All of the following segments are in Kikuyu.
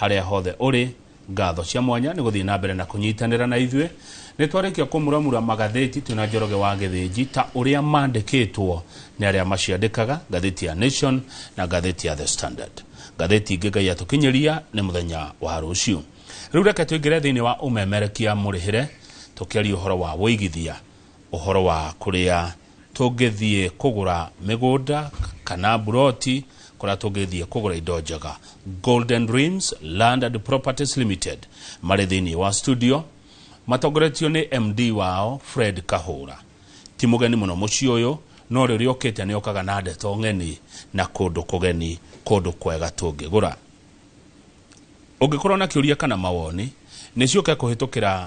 Harĩa hothe ũrĩ, ngatho cia mwanya nĩ gũthiĩ na mbere na kũnyitanĩra na ithuĩ. Nĩ twarĩkia kũmuramura magathĩti twĩna Njoroge wa Gĩthĩnji ta ũrĩa mandĩkĩtwo nĩ arĩa maciandĩkaga, ngathĩti ya Nation na ngathĩti ya The Standard. Ngathĩti ingĩ Ngai atũkinyĩria nĩ mũthenya wa rũciũ. Rĩu reke tũingĩre thĩinĩ wa ũmemerekia mũrĩhĩre tũkĩaria ũhoro wa wũigithia, ũhoro wa kũrĩa Tũngĩthiĩ kũgũra mĩgũnda kana mburoti kũrĩa tũngĩthiĩ kũgũra indo njega. Golden Rims Land and Properties Limited marĩ thĩinĩ wa studio matongoretio nĩ MD wao Fred Kahũra. Ti mũgeni mũno mũciĩ ũyũ no rĩrĩa ũkĩte nĩ ũkaga na ndeto ng'eni na kũndũ kũgeni, kũndũ kwega tũngĩgũra. Ũngĩkorwo na kĩũria kana mawoni nĩ ciũke kũhĩtũkĩra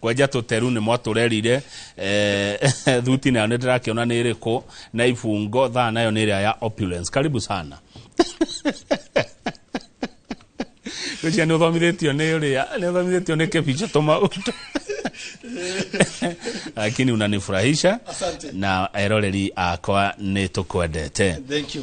kwenja tũteru nĩ mwatũrerire eh, thuti nayo nĩ ndĩrakĩona nĩ ĩrĩkũ na ibungo thaa nayo nĩ ĩrĩa ya opulence karibu sana Rĩcia nĩ ũthomithĩtio nĩ ũrĩa nĩ ũthomithĩtio nĩ kĩbica tũmaũndũ lakini unanifurahisha Asante. na eroreri akwa nĩ tũkwendete Thank you.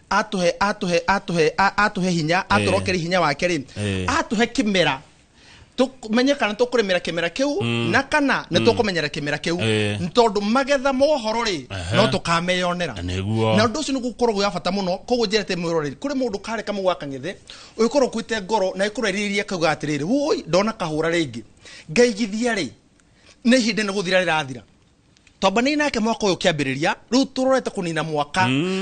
atũhe atũhe atũhe a- atũhe hinya atũrokere hinya wake rĩ Eh. atũhe kĩmera tũmenye kana tũkũrĩmĩra kĩmera kĩu na kana nĩ tũkũmenyera kĩmera kĩu Eh. Nĩ tondũ magetha mohoro rĩ Aha. no tũkameyonera Nĩguo. na ũndũ ũcio nĩ gũkorwo gwĩ wa bata mũno koguo njĩra te mwĩroreri kũrĩ mũndũ karĩ kamũ gwa kang'ethe ũgĩkorwo ũkuĩte ngoro na ĩkorwo ĩrĩirie kauga atĩrĩrĩ woi ndona kahũra rĩngĩ ngaigithia rĩ nĩ ihinda nĩ gũthira rĩrathira twambanai nake mwaka ũyũ kĩambĩrĩria rĩu tũrorete kũnina mwaka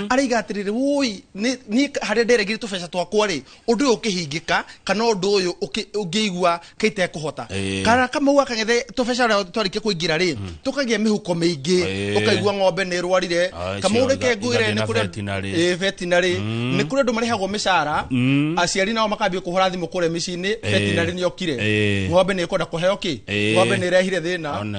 araiga atĩrĩrĩ woi niĩ harĩa nderegire tũbeca twakwa rĩ ũndũ ũyũ ũkĩhingĩka kana ũndũ ũyũ ũkĩ- ũngĩigua kaitekũhota Ĩĩ. kana kamau gakang'ethe tũbeca ũrĩa twarĩkia kũingĩra rĩ tũkagĩa mĩhuko mĩingĩ Ĩĩ. ũkaigua ng'ombe nĩ ĩrwarire Ai, kamau cio, reke iga- ngwĩre igathiĩ nĩ na kũrĩ veterinary. Ĩĩ, veterinary nĩ kũrĩ andũ marĩhagwo mĩcara aciari nao makambia kũhũra thimũ kũrĩa mĩciĩ-inĩ veterinary nĩ okire Ĩĩ. ng'ombe nĩ ĩkwenda kũheo kĩ Ĩĩ. ng'ombe nĩ ĩrehire thĩna Ona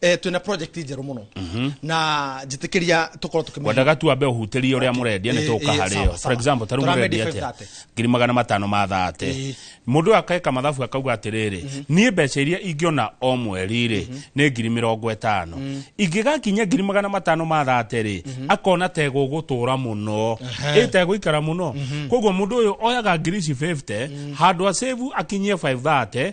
eh, twina project njeru muno mhm. na njitikiria tukorwo tukimenya wendaga tu ambe uhuterie uria murendia ni tuka hari yo for example taru murendia atia ngiri magana matano ma thate mundu akeka mathabu akauga atiriri mhm. ni mbeca iria ingiona o mweri ri mhm. ni ngiri mirongo itano mm. ingigakinya ngiri magana matano ma thate ri akona tego gutura muno itego ikara muno koguo mundu uyu oyaga ngiri ici 50 mm. handu a save akinyie 530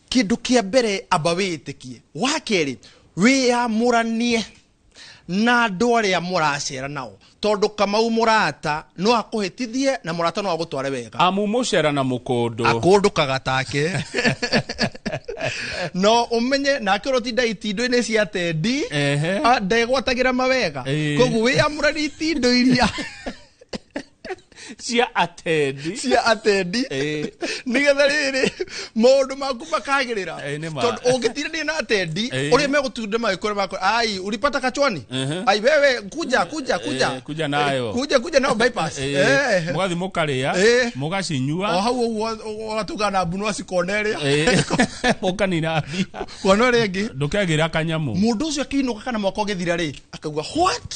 Kĩndũ kĩa mbere amba wĩĩtĩkie. Wa kerĩ, wĩyamũranie na andũ arĩa mũracera nao. Tondũ Kamau mũrata no akũhĩtithie na mũrata no agũtware wega. Amu mũcera na mũkũndũ. Akũndũkaga take. No ũmenye nake ũrĩa ũtindaga itindu-inĩ cia tendi Ehe. ah, ndegwatagĩra mawega. Ĩĩ. Koguo wĩyamũranie itindu iria cia atendi cia atendi Eh. nigetha rĩrĩ maũndũ maku makagĩrĩra Eh, nĩ ma. tondũ ũngĩtirania na atendi Eh. ũrĩa megũtunda magĩkũra makũra ai ulipata kachwani Mhm. ai wewe kuja kuja kuja Eh, kuja nayo. kuja kuja nayo bypass Eh, Eh. mũgathi mũkarĩa Eh. o mũgacinyua hau ũguo ũgatuga na mbunwa cikona ĩrĩa Eh, mũkanina mbia kona ĩrĩa ĩngĩ ndũkegĩra kanyamũ mũndũ ũcio akĩinũka kana mwaka ũgĩthira rĩ akaigua what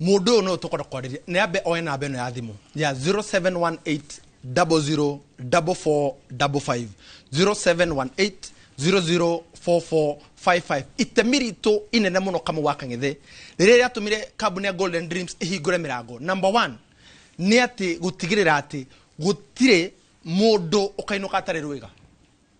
Mũndũ ũyũ nĩwe tũkwenda kwarĩria nĩ ambe oe namba ĩno ya thimũ ya 0718004455 0718004455 itemi ritũ inene mũno kamũ wa kang'ethe nĩ rĩrĩa rĩatũmire kambuni ya golden dreams ĩhingũre mĩrango number one nĩ atĩ gũtigĩrĩra atĩ gũtirĩ mũndũ ũkainũka atarĩ rwĩga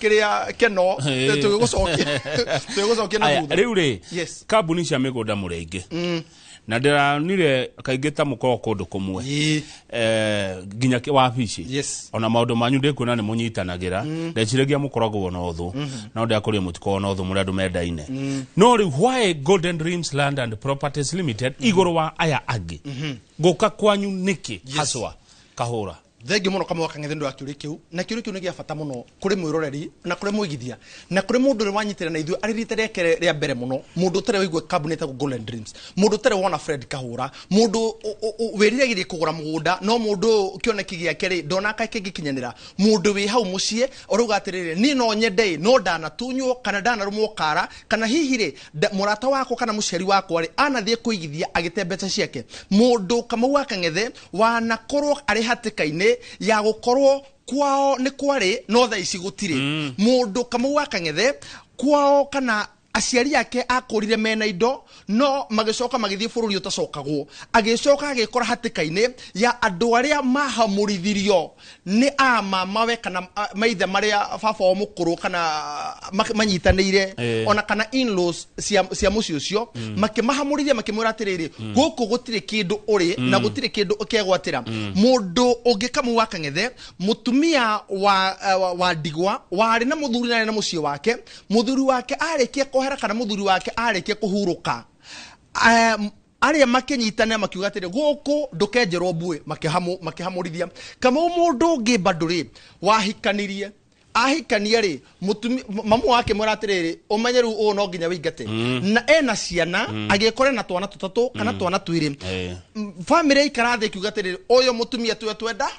kĩrĩa keno tũgĩgũcokia tũgĩgũcokia na thutha rĩu rĩ kambuni cia mĩgũnda mũrenge mm. na ndĩranire kaingĩ ta mũkorwo kũndũ kũmwe eh, nginya wabici ona maũndũ manyu ndĩkuona nĩ mũnyitanagĩra mm. ndeciragia mũkoragwo na ũthũ mm. no ndĩakũria mũtikorwo na ũthũ mũrĩ andũ mendaine no rĩu why golden dreams land and properties limited igũrũ wa aya angĩ mm-hmm. ngũka kwanyu nĩkĩ haswa kahũra Thengiũ mũno kamũgaka ng'ethe nĩũndũ wa kĩũria kĩu na kĩũria kĩu nĩ gĩa bata mũno kũrĩ mwĩroreri na kũrĩ mwĩgithia na kũrĩ mũndũ ũrĩa wanyitĩrĩra na ithuĩ arĩ rita rĩake rĩa mbere mũno mũndũ ũtarĩ waigua kambuni ĩtagwo Golden Dreams mũndũ ũtarĩ wona Fred Kahũra mũndũ ũ- ũ- ũ- wĩriragĩria kũgũra mũgũnda no mũndũ ũyũ kĩoneki gĩake rĩ ndonaka kĩngĩkinyanĩra mũndũ wĩ hau mũciĩ ũrauga atĩrĩrĩ niĩ no nyende ĩ no ndanatunywo kana ndanarũmwo kara kana hihi rĩ nda- mũrata wakwa kana mũciari wakwa rĩ anathiĩ kũigithia agĩte mbeca ciake mũndũ kamau wa kang'ethe wanakorwo arĩ hatĩka-inĩ ya gũkorwo kwao nĩ kwarĩ no thaa ici gũtirĩ mũndũ kamau wa kang'ethe kwao kana aciari ake akũrire mena indo no magĩcoka magĩthiĩ bũrũri ũtacokagwo agĩcoka agĩkora hatĩka-inĩ ya andũ arĩa mahamũrithirio nĩ a mamawe kana a, maithe marĩa baba wa mũkũrũ kana a, ma- manyitanĩire Eh. ona kana in-laws cia, cia mũciĩ ũcio makĩmahamũrithia makĩmwĩra atĩrĩrĩ gũkũ gũtirĩ kĩndũ ũrĩ na gũtirĩ kĩndũ ũkegwatĩra mũndũ ũngĩ kamu wa kang'ethe mũtumia wa, eh, wa, wa ndigwa warĩ na mũthuri na arĩ na mũciĩ wake mũthuri wake arĩkia kwehera kana mũthuri wake arĩkia kũhurũka um, arĩa makĩnyitana makiuga atĩrĩ gũkũ ndũkenjerwo mbuĩ makĩhamũ- makĩhamũrithia kamau mũndũ ũngĩ mbandũ rĩ wahikanirie ahikania rĩ mũtumi- m- mamu wake mwĩra atĩrĩrĩ ũmenye rĩu ũũ no nginya wĩingate na ena ciana agĩkora ena twana tũtatũ kana twana twĩrĩ Eh. bamĩrĩ yaikara thĩ ĩkiuga atĩrĩrĩ ũyũ mũtumia tuwe twenda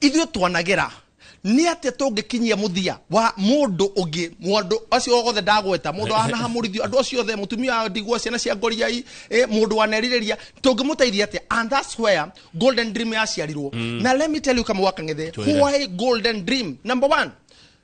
Ithuĩ twanagĩra nĩ atĩa tũngĩkinyia mũthia wa mũndũ ũngĩ mũndũ acio othe ndagweta mũndũ wanahamũrithio andũ acio othe mũtumia wa ndigwa ciana cia ngoriai eh, mũndũ wanerirĩria tũngĩmũteithia atĩa and that's where golden dream yaciarirwo na let me tell you kama wakang'ethe why golden dream number one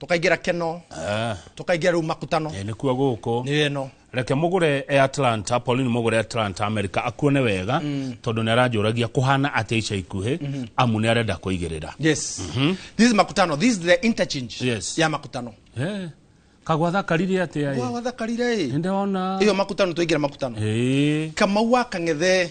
tũkaingĩra keno Eh, tũkaingĩra rĩu makutano eh, nĩkuo gũkũ nĩ ĩno reke mũgũre e atlanta pauline mũgũre atlanta america akuone wega tondũ nĩ aranjũragia kũhana atĩa ica ikuhĩ amu nĩ arenda kũigĩrĩra yes this is makutano this is the interchange Yes. ya makutano Eh, kagwatha karire atĩa wa ĩ wathakarire ĩ nĩndĩrona ĩyo makutano twaingĩra makutano Ĩĩ. kamau wa kang'ethe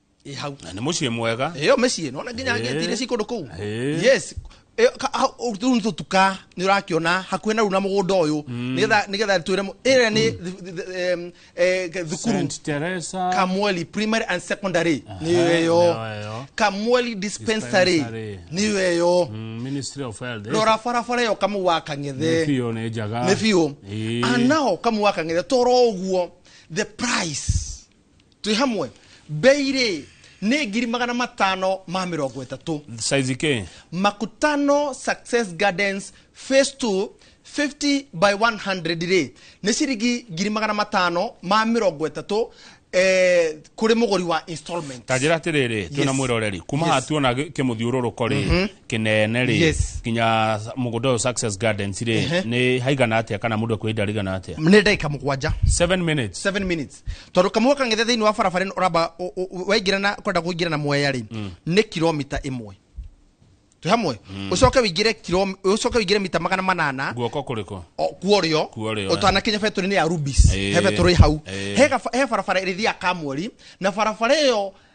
ĩ hau Na nĩ mũciĩ mwega ĩyo mĩciĩ nona nginya Ĩĩ. ngeti iria ci kũndũ kũu Ĩĩ. yes Ĩyo ka- hau- hau- rĩu nĩ tũtuka nĩ ũrakĩona hakuhĩ na rĩu na mũgũnda ũyũ nĩgetha nĩgetha twĩre mũ- ĩrĩa nĩ th- th- th- em, eh, thukuru Saint Teresa kamweli primary and secondary nĩyo nĩyo ĩyo ĩyo. kamweli dispensary Dispensary. nĩyo ĩyo Mm, Ministry of Health eh? rora barabara ĩyo kamu wa Nĩ kang'ethe biũ nĩ njaga nĩ biũ Ĩĩ. anao kamu wa kang'ethe toro ũguo the price twĩ hamwe bei rĩ nĩ ngiri magana matano ma mĩrongo ĩtatũ size ke makutano success gardens phase 2 50 by 100 rĩ nĩ ciringi ngiri magana matano ma mĩrongo ĩtatũ eh, kũrĩ mũgũri wa installment ta njĩra atĩrĩrĩ twĩna Yes. mwĩroreri kuma Yes. haha tuona gĩ- kĩmũthiũrũrũko rĩ kĩnene rĩ Yes. nginya mũgũnda ũyũ success gardens rĩ nĩ haigana atĩa kana mũndũ akwenda rigana atĩa nĩ ndagĩka mũgwanja 7 minutes 7 minutes tondå kamå kangä thä inä wa barabara ĩno ũramba ũ- ũ- ũ- waingĩra na kwenda kå ingĩra na mweya rä nä kilomita ä mwe twä hamwe å coke wĩingĩre kilo- å coke wĩingĩre mita magana manana guoko kå rä kå o- kuorĩo Kuorĩo, ũtanakinya betũrĩ-inĩ ya rubis Ĩĩ. he betũrĩ hau Ĩĩ. he gaba- he barabara ĩrĩthiaga kamweri na barabara ĩyo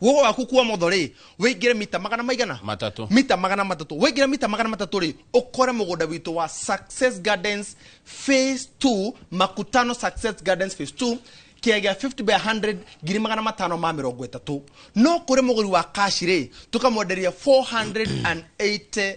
wogo waku kuo motho rĩ wĩingĩre mita magana maigana Matatũ. mita magana matatũ wĩingĩre mita magana matatũ rĩ ũkore mũgũnda witũ wa success gardens phase 2 makutano success gardens phase 2 kĩa gĩa 50 by 100 ngiri magana matano ma mĩrongo ĩtatũ no kũrĩ mũgũri wa kashi rĩ tũkamwenderia 480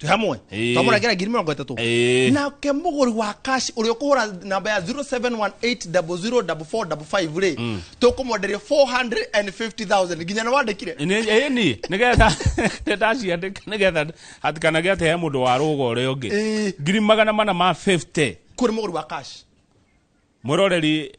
twĩ hamwe Ĩĩ. twamũra ngera ngiri mĩrongo ĩtatũ Ĩĩ. nake mũgũri wa kaci ũrĩa ũkũhũra namba ya 0718004455 rĩ tũkũmwenderia 450000 nginya nĩ wandĩkire Nĩ- ĩĩ niĩ nĩgetha ndaciandĩka nĩgetha hatikanage atĩ he mũndũ wa rũga ũrĩa ũngĩ Ĩĩ. ngiri magana mana ma 50 kũrĩ mũgũri wa kaci mwĩroreri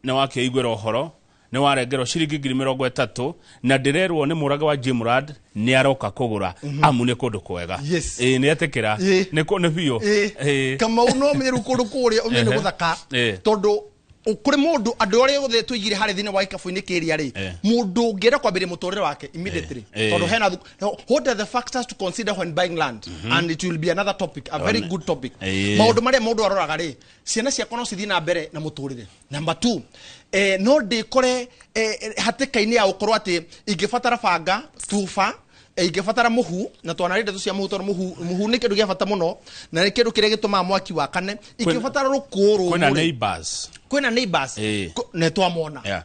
nĩ wakĩaiguĩra ũhoro nĩ warengerwo ciringi ngiri mĩrongo ĩtatũ na ndĩrerwo nĩ mũrage wa jimrad nĩ aroka kũgũra amu nĩ kũndũ kwega Mhm. Yes. Ĩĩ, nĩ etĩkĩra Ĩĩ. nĩ kũ- nĩ biũ Ĩĩ. Ĩĩ. kamau no meru kũndũ kũrĩa ũmenya nĩ Ehe. gũthaka Ĩĩ. tondũ ũ- kũrĩ mũndũ andũ arĩa othe tũigire harĩ thĩinĩ wa ikabu-inĩ kĩria rĩ Ĩĩ. mũndũ ũngĩenda kwambĩrĩria mũtũrĩre wake immediately Ĩĩ. Ĩĩ. tondũ hena thuk- what are the factors to consider when buying land and it will be another topic a very One. good topic Ĩĩ. maũndũ marĩa mũndũ aroraga rĩ ciana ciakwa no cithiĩ na mbere na mũtũrĩre namba t eh, no ndĩkore eh, eh, hatĩka-inĩ ya gũkorwo atĩ ingĩbatara banga tuba eh, ingĩbatara mũhu na twanarĩ ndeto cia mũhu tondũ mũhu mũhu nĩ kĩndũ gĩa bata mũno na nĩ kĩndũ kĩrĩa gĩtũmaga mwaki wakane ingĩbatara rũkũũ kwĩna rũmũ neighbors kwĩna neighbors Eh. Ko- nĩ twamona Yeah.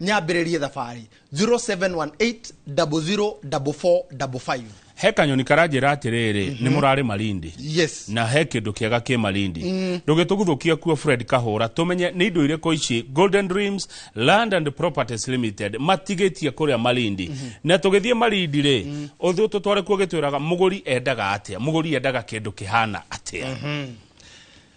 nyambĩrĩrie thabarĩ 0718004455 he kanyoni karanjĩra atĩrĩrĩ nĩ mũrarĩ malindi yes na he kĩndũ kĩega kĩ malindi ndũgĩtũguthũkia kuo fred kahũra tũmenye nĩ indo irĩkũ ici golden dreams land and properties limited matigĩtie kũrĩa malindi na tũgĩthiĩ malindi rĩ ũthũ tũtware kuo gĩtwĩraga mũgũri endaga atĩa mũgũri endaga kĩndũ kĩhana atĩa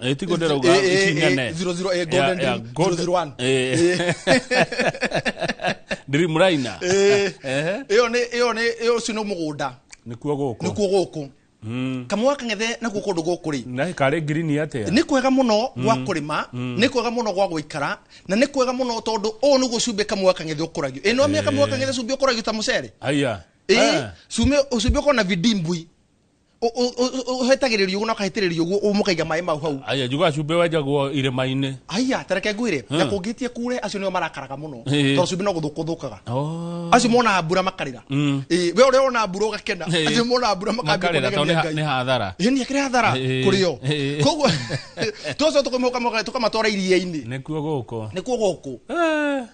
Eh, ti gonde rauga Eh, eh, ikinya eh, ne. 00, eh, Ya- Golden ya, Dream, Golden- 001. Eh. Dream Raina. Eh, Ehe. ĩyo nĩ ĩyo nĩ ĩyo ũcio nĩ mũgũnda Nĩkuo gũkũ. nĩkuo gũkũ kamũa kang'ethe nakuo kũndũ gũkũ rĩ Na karĩ ngirini atĩa? nĩ kwega mũno gwa kũrĩma nĩ kwega mũno gwa gũikara na nĩ kwega mũno tondũ ũũ nĩguo cumbĩ kamũa kang'ethe ũkũragio ĩno mĩaka kamũa kang'ethe cumbĩ ũkũragio ta mũcere Aya. ĩĩ Ah. cumbĩ ũkona vidimbui ũhetagĩrĩrio ũguo na ũkahĩtĩrĩrio ũguo mũkaiga maĩ mau hau aya njuga cumbĩ wenjagwo irĩma-inĩ aya tareke ngwĩre hmm. na kũngĩtie kure acio nĩo marakaraga mũno tondũ cumbĩ no gũthũkũthũkaga oh. acio monaga mbura makarĩra hmm. we ũrĩa wona mbura ũgakena acio monaga mbura makarĩra nĩ hathara nĩ akĩrĩ hathara kũrĩ o koguo tũcio tũkamatwara iria-inĩ nĩkuo gũkũ nĩkuo gũkũ eh,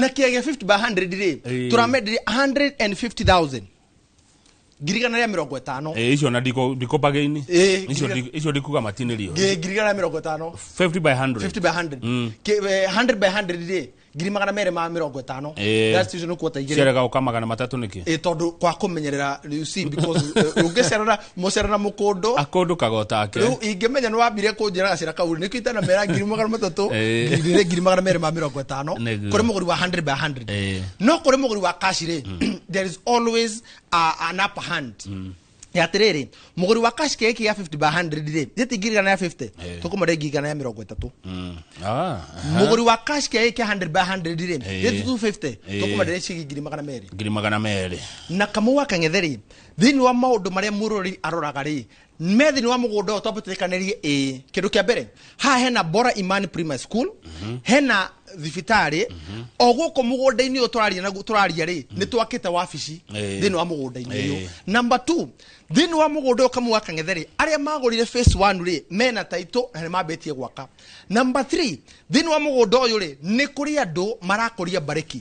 na kĩagia 50 by 100 rĩ tũramendire 150000 ngirigana rĩa mĩrongo ĩtano Eh, icio na ndiko ndiko bargain Eh, icio ngira- ndi- icio ndikuga matinirio Ngi- ngirigana rĩa mĩrongo ĩtano 50 by 100 50 by 100 Ki- eh, 100 by 100 rĩ ngiri magana merĩ ma mĩrongo ĩtano Eh. That's usually nĩ kuota igĩrĩ ciarega uka magana matatu niki ä tondå kwa kå menyerera you see, because, eh, ũngĩcerera mũcere na mũkũndũ akũndũkaga o take rĩu ingĩmenya nĩ wambire kũnjĩra gacĩra kau nĩkĩo itanamera ngiri magana matatũ Eh. ngiri igĩrĩ ngiri magana merĩ ma mĩrongo ĩtano Nĩguo. kũrĩ mũgũri wa 100 by 100 Eh. no kũrĩ mũgũri wa kaci rĩ there is always a, an upper hand ya atĩrĩrĩ mũgũri wa kaci kĩgĩkĩ gĩa 50 by 100 rĩ gĩtingirigana ya 50 Eh. tũkũmare ngirigana ya mĩrongo ĩtatũ Mm. Ah, mũgũri wa kaci kĩgĩkĩ kĩa 100 by 100 rĩ Eh. gĩtutu 50 Eh. tũkũmare ciringi ngiri magana merĩ ngiri magana merĩ na kamau wa kang'ethe rĩ Thĩinĩ wa maũndũ marĩa mũroreri aroraga rĩ, me thĩinĩ wa mũgũnda ũyũ twambe tũrĩkanĩrie ĩĩ kĩndũ kĩa mbere haha hena bora imani primary school hena thibitarĩ o gũkũ mũgũnda-inĩ ũyũ tũraria naguo tũraria rĩ nĩ twakĩte wabici Ĩĩ. thĩinĩ wa mũgũnda-inĩ Ĩĩ. ũyũ number two thĩinĩ wa mũgũnda ũyũ kamwe wa kang'ethe rĩ arĩa magũrire face one rĩ mena taitũ na nĩ mambĩtie gwaka number three thĩinĩ wa mũgũnda ũyũ rĩ nĩ kũrĩ andũ marakũria mbarĩki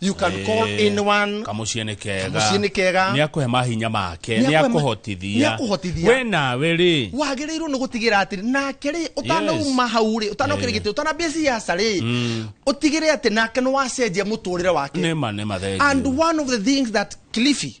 You can Eh, call anyone. kamuciĩ nĩ kega Kamuciĩ nĩ kega. nĩ akũhe mahinya make Nĩ nĩ akũhe ma- akũhotithia nĩ akũhotithia. we nawe rĩ wagĩrĩirwo nĩ gũtigĩra atĩ nake rĩ ũtanauma hau rĩ ũtanokĩra gĩtĩ ũtanambia ciaca rĩ ũtigĩre atĩ nake nĩ wacenjia mũtũrĩre wake nĩ ma nĩ and mathengio one of the things that Cliffy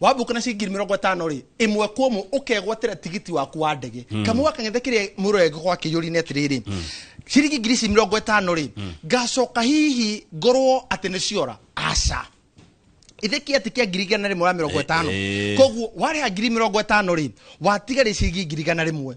wambuka na ciringi ngiri mĩrongo ĩtano rĩ ĩmwe kwa ĩmwe ũkegwatĩra tigiti waku wa ndege kamwe gakang'ethe kĩrĩa mũrengo gwa kĩyũri-inĩ atĩrĩrĩ ciringi ngiri ici mĩrongo ĩtano rĩ ngacoka hihi ngorwo atĩ nĩ ciora aca ithe kä atä kä a ngiri igana rä mwe wa mä rongo ä tano Eh, eh. koguo warä ha ngiri mä rongo ä tano rä watiga rä ciringi ngiri igana rä mwe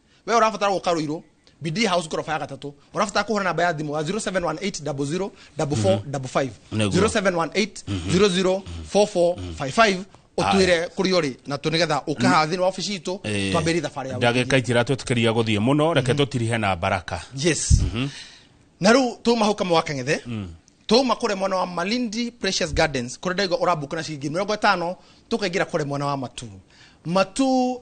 we ũrabatara gũka rũirũ bidii house ngoroba ya gatatũ ũrabatara kũhũra namba ya thimũ ya 0718004455 Nĩguo. 0718004455 ũtwĩre kũrĩa ũrĩ na tũ nĩgetha ũkaha thĩinĩ wa obici itũ Eh, twambĩrie thabarĩ ya ndagä ka itiratwätĩkĩria gå thiä må no reke tå tirihe na baraka yes na rä u tå ma hau kamwe wa kang'ethe tå ma kå rä mwena wa malindi precious gardens kå rä ndaigua å rambuka na ciringi mä rongo ätano tå kaingä ra kå rä mwena wa matu matu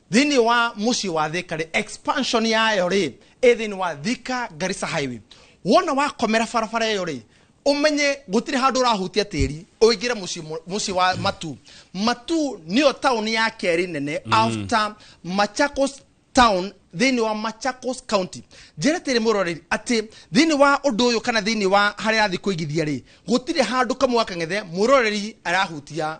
Thĩinĩ wa mũciĩ wa Thika rĩ, expansion yayo rĩ, ĩ thĩinĩ wa Thika Garissa Highway. Wona wakomera barabara ĩyo rĩ, ũmenye gũtirĩ handũ ũrahutia tĩri ũingĩre mũciĩ mũ- mũciĩ wa Matu. Matu nĩyo taũni ya kerĩ nene after Machakos town thĩinĩ wa Machakos County. Njĩra tĩrĩ mũroreri atĩ thĩinĩ wa ũndũ ũyũ kana thĩinĩ wa harĩa arathiĩ kũigithia rĩ, gũtirĩ handũ kamwe wa kang'ethe mũroreri arahutia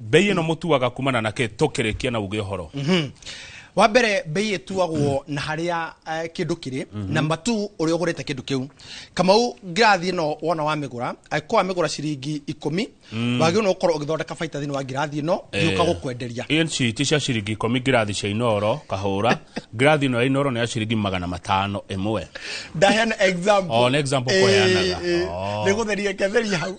mbei ĩno mũtuaga kumana na kĩ tũkĩrĩkia na uge ũhoro mhm. wa mbere mbei ĩtuagwo na harĩa eh, kĩndũ kĩrĩ mhm. na matu ũrĩa ũgũrĩte kĩndũ kĩu kamau ngirathi ĩno wona wamĩgũra angĩkorwo wamĩgũra ciringi ikũmi mm. wagĩrĩirwo nĩ gũkorwo ũgĩthondeka baita thĩinĩ wa ngirathi ĩno gĩũka eh. gũkwenderia inci ti cia ciringi ikũmi ngirathi cia inoro kahũra ngirathi ĩno ya inoro nĩ ya ciringi magana matano ĩmwe ndaheana example oh, nĩ example kũheanaga eh, oh. nĩ gũtheria ketheria hau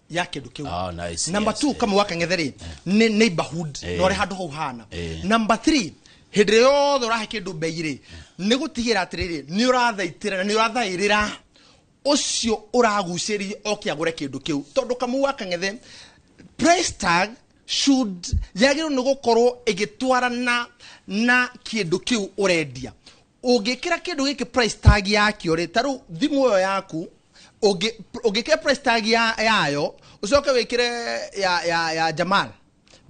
ya kindu kiu Oh, nice, number yes, 2 kama waka ngetheri ni neighborhood Eh. no re handu hau hana Eh. number 3 hindi yothe urahe kindu mbei ri ni gutigira atiriri ni urathaitira na ni urathairira ucio uraguciririe oke agure kindu kiu tondu kamu waka ngethe price tag should yagirwo ni gukorwo igitwarana na kindu kiu urendia ũngĩkĩra kĩndũ gĩkĩ price tag yakĩo rĩ ta rĩu thimũ ĩyo yaku ũngĩ- ũngĩkĩra price tag ya- yayo ũcoke wĩkĩre ya, ya, ya jamal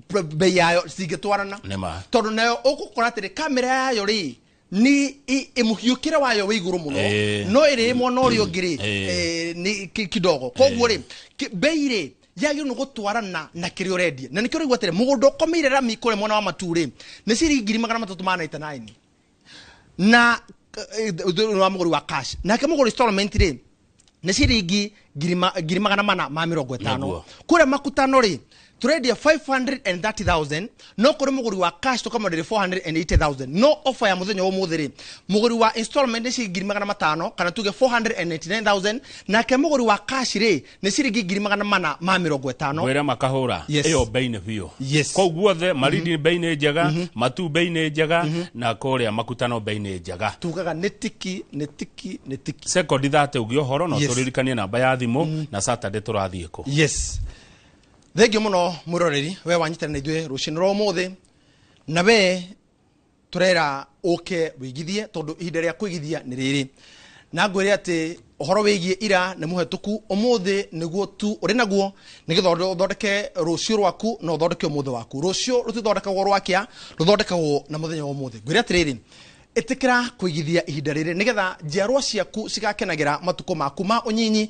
pr- bei yayo cingĩtwarana Nĩ ma. tondũ nayo ũgũkora atĩrĩ kamera yayo rĩ ni i- ĩmũhiũkĩre wayo wĩ igũrũ mũno Eh. no ĩrĩ mwena ũrĩa ũngĩ rĩ Eh. eh, nĩ ki- kidogo koguo rĩ ki- bei rĩ yagĩrĩirwo nĩ gũtwarana na kĩrĩa ũrendia na nĩkĩo ũraigua atĩrĩ mũgũnda ũkomeire rami kũrĩa mwena wa matu rĩ nĩ ciringi ngiri magana matatũ ma 99 na eh, thĩinĩ wa mũgũri wa cash nake mũgũri installment rĩ nĩ ciringi ngiri ma- ngiri magana mana ma mĩrongo ĩtano Naguo. kũrĩa makutano rĩ tũrendia 530000 no kũrĩ mũgũri wa cash tũkamwenderia 480000 no ofa ya mũthenya wa ũmũthĩ rĩ mũgũri wa installment nĩ ciringi ngiri magana matano kana tuge 499000 nake mũgũri wa cash rĩ nä ciringi ngiri magana mana ma mä rongo ätano ngwira makahura Yes. iyo bei-inĩ biũ Yes. kũu guothe marindi bei-inĩ njega matu bei-inĩ njega na kũrĩa makutano bei-inĩ njega tugaga nä tiki nä tiki nä tiki sekondi thate ũgĩ ũhoro no Yes. tũririkanie namba ya thimũ na saturday tũrathiĩ kũ yes thengio må no mwä roreri we wanyitana na ithuä rå cinä rwa må thä na we tũrera ũke wĩigithie tondũ ihinda rĩa kwĩgithia nĩ rĩrĩ na ngwĩre atĩ ũhoro wĩgiĩ ira nĩ mũhetũku ũmũthĩ nĩguo tu ũrĩ naguo nĩgetha ũthonde- ũthondeke rũciũ rwaku na ũthondeke ũmũthĩ waku rũciũ rũtithondekagwo rwakĩa rũthondekagwo na mũthenya wa ũmũthĩ ngwĩre atĩrĩrĩ ĩtĩkĩra kũigithia ihinda rĩrĩ nĩgetha njiarwa ciaku cigakenagĩra matukũ maku ma ũnyinyi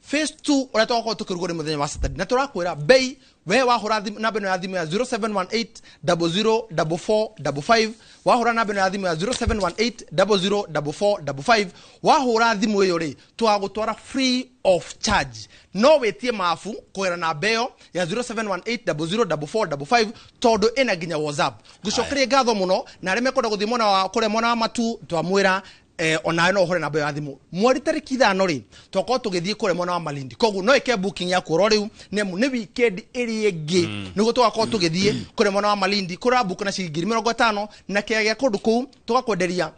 phase 2 uria twakorwo tukirugo ni muthenya wa saturday na turakwira bei we wahura thimu- namba ino ya thimu ya 0718004455 wahura namba ino ya thimu ya 0718004455 wahura thimu iyo ri twagutwara free of charge no witie mafu kugira namba iyo ya 0718004455 tondu ina nginya whatsapp ngucokerie ngatho muno na aria mekwenda guthie mwena wa kuria mwena wa matu twamwira eh, onawe no hore namba ya thimu mweri tariki ithano ri tokorwo tugithii kure mwena wa malindi koguo no ike booking ya kuoro riu nemu ni weekend iri ingi mm. niguo tugakorwo tugithii kure mwena wa malindi kura book na ciringi ngiri mirongo itano na kia gia kundu kuu tugakwenderia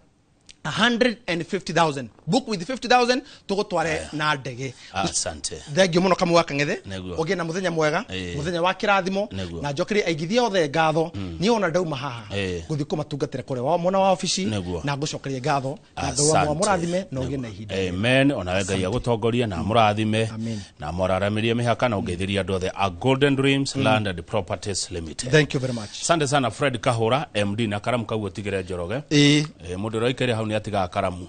150,000 book with 50,000 tugutware na ndege asante thengio muno kamwe wa kang'ethe Nĩguo. ũgĩe na mũthenya mwega Ĩĩ. mũthenya wa kĩrathimo Nĩguo. na njokere aigithia othe ngatho niĩ ona ndauma haha Ĩĩ. ngũthiĩ kũmatungatĩra kũrĩa wa mwena wa obici Nĩguo. na ngũcokeria ngatho na ngai wa Asante. mũrathime na ũgĩe na ihinda rĩega. amen onawe ngai agũtongorie na mũrathime Amen. na mũraramĩrie mĩhaka na ũgeithirie andũ othe a golden dreams land and properties limited thank you very much sande sana fred kahura md na karamu kau ũtigĩre njoroge Ĩĩ. Eh, mũndũ ũraikaire hau nĩ atigaga karamu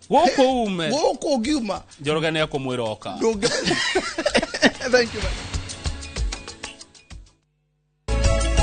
gũkũ ume gũkũ ũngiuma njoroge nä ekå mwä ra oka ndũngĩ Thank you, man.